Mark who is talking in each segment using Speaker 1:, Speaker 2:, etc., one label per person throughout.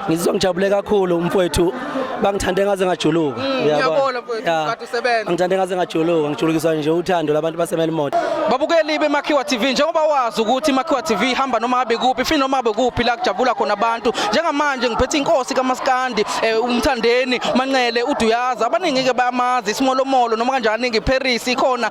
Speaker 1: ngizizwa ngijabule kakhulu umfowethu bangithande ngaze ngajuluka mm, uyabona kade
Speaker 2: usebenza ngithande ngaze ngajuluka
Speaker 1: ngijulukiswa nje uthando labantu basemelimoto babukeli bemakhiwa
Speaker 2: tv njengoba wazi ukuthi imakhiwa tv ihamba noma ngabe kuphi fini noma ngabe kuphi la kujabula khona abantu njengamanje ngiphethe inkosi kamaskandi eh, umthandeni manqele uduyaza abaningi-ke bayamazi isimolomolo noma kanjani ngiparis ikhona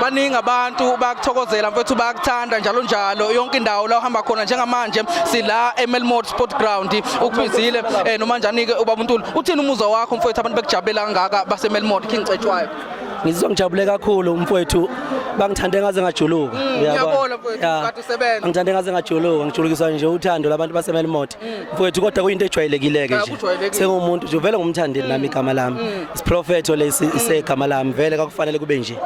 Speaker 1: baningi
Speaker 2: abantu bayakuthokozela mfethu bayakuthanda njalo njalo yonke indawo la uhamba khona njengamanje sila eMelmore Sport Ground ukubizile eh, noma njani ke ubaba uNtuli uthini umuzwa wakho mfethu abantu bekujabulela kangaka baseMelmore King Cetshwayo ngizizwa ngijabule
Speaker 1: kakhulu mfowethu bangithande ngaze ngajuluka mm, uyabona mfowethu
Speaker 2: kade usebenza ngithande ngaze ngajuluka
Speaker 1: ngijulukiswa nje uthando labantu baseMelmot mfowethu kodwa kuyinto ejwayelekile-ke nje kujwayelekile. sengumuntu nje vele ngumthandeli nami igama lami isiprofetho lesi isegama lami vele kakufanele kube nje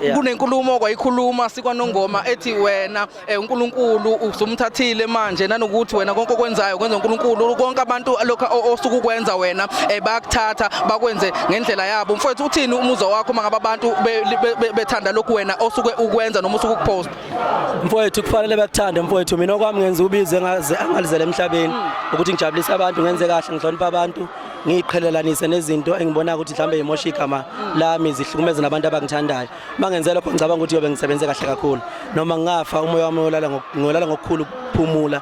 Speaker 1: Yeah. kunenkulumo
Speaker 2: okwayikhuluma sikwanongoma ethi wena eh, uNkulunkulu usumthathile manje nanokuthi wena konke okwenzayo kwenza uNkulunkulu konke abantu lokho o- osuke ukwenza wena eh, bayakuthatha bakwenze ngendlela yabo mfowethu uthini umuzwa wakho mangabe abantu be- be- be- bethanda lokhu wena osuke ukwenza noma usuke ukupost mfowethu
Speaker 1: kufanele bakuthande mfowethu mina okwami ngenza ubize angalizele emhlabeni ukuthi ngijabulise abantu ngenze kahle ngihlonipha abantu ngiyiqhelelanise nezinto engibona ukuthi mhlawumbe yimosha igama lami zihlukumeze nabantu abangithandayo uma ngenze lokho ngicabanga ukuthi yobe ngisebenze kahle kakhulu noma ngingafa umoya wami ngolala ngokukhulu ukuphumula